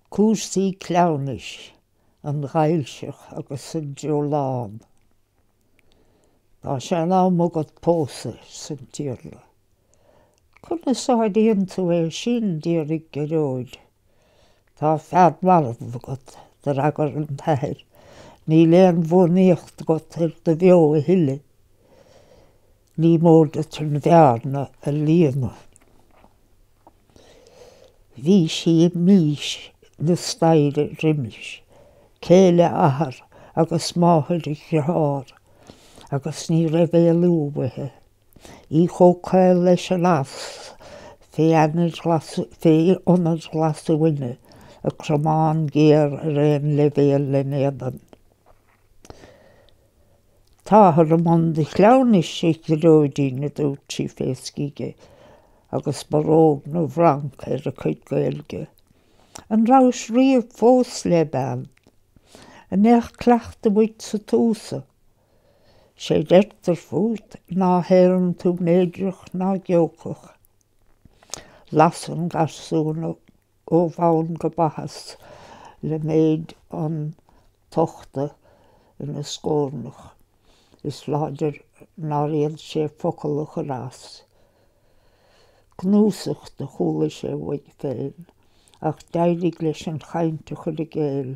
Cúrsaí cleamhnais, an Ghaillseach agus an Dreolán. Tá sé in am agat pósadh arsan tIarla. Conas a áiríonn tú é sin, d'fhiafraigh Gearóid. Tá fear marbh agat, d'fhreagair an t-athair. Níl aon bhuanaíocht agat ar do bheo a thuilleadh. Ní mór duit an bhearna a líonadh. Bhí sí i mbís na staighre roimis, céile athar agus máthair a dhearthár, agus ní raibh éalú uaithi. Í chomh caol leis an eas fé ionar ghlasuaine, a cromán géar ar aon leibhéal len' éadan. Táthar i mbun do chleamhnais, a Ghearóidín, a dúirt sí fé scige, agus barróg na bhFranc ar a cuid Gaeilge. An rabhais riamh fós le bean? An mbeadh cleachtadh uait sa tsúsa? sé deirtear fút ná héarann tú méirdreach ná geocach. Las an garsún ó bhonn go baitheas le méid an tochta ina scórnach. Is láidir nár fhéad sé focal a chur as. Gnúsacht do chuala sé uaidh féin ach d'éirigh leis an chaint a chur i gcéill.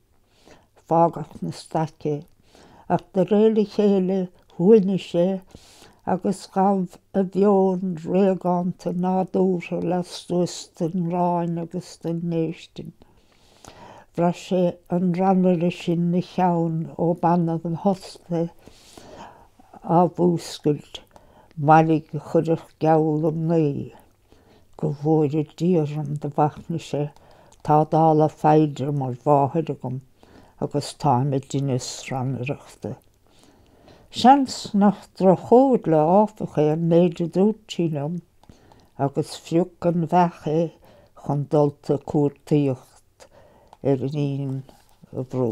fágadh na staic é, ach de réir a chéile shuaimhnigh sé agus ghabh a mheon réagánta nádúrtha lastuas den ngráin agus den ndéistin. Bhraith sé an rannaire sin 'na cheann ó b'annamh ina thost é á mhúscailt, mairg a chuirfeadh geall um mnaoi. Go bhfóire Dia orm do mhachnaigh sé, tá dála Phaedra mar mháthair agam agus táim i dtinneas rannaireachta. Seans nach droch-chomhairle áfach é an méid a dúirt sí liom agus phrioc an bheach é chun dulta ag cuartaíocht ar iníon an bhrú.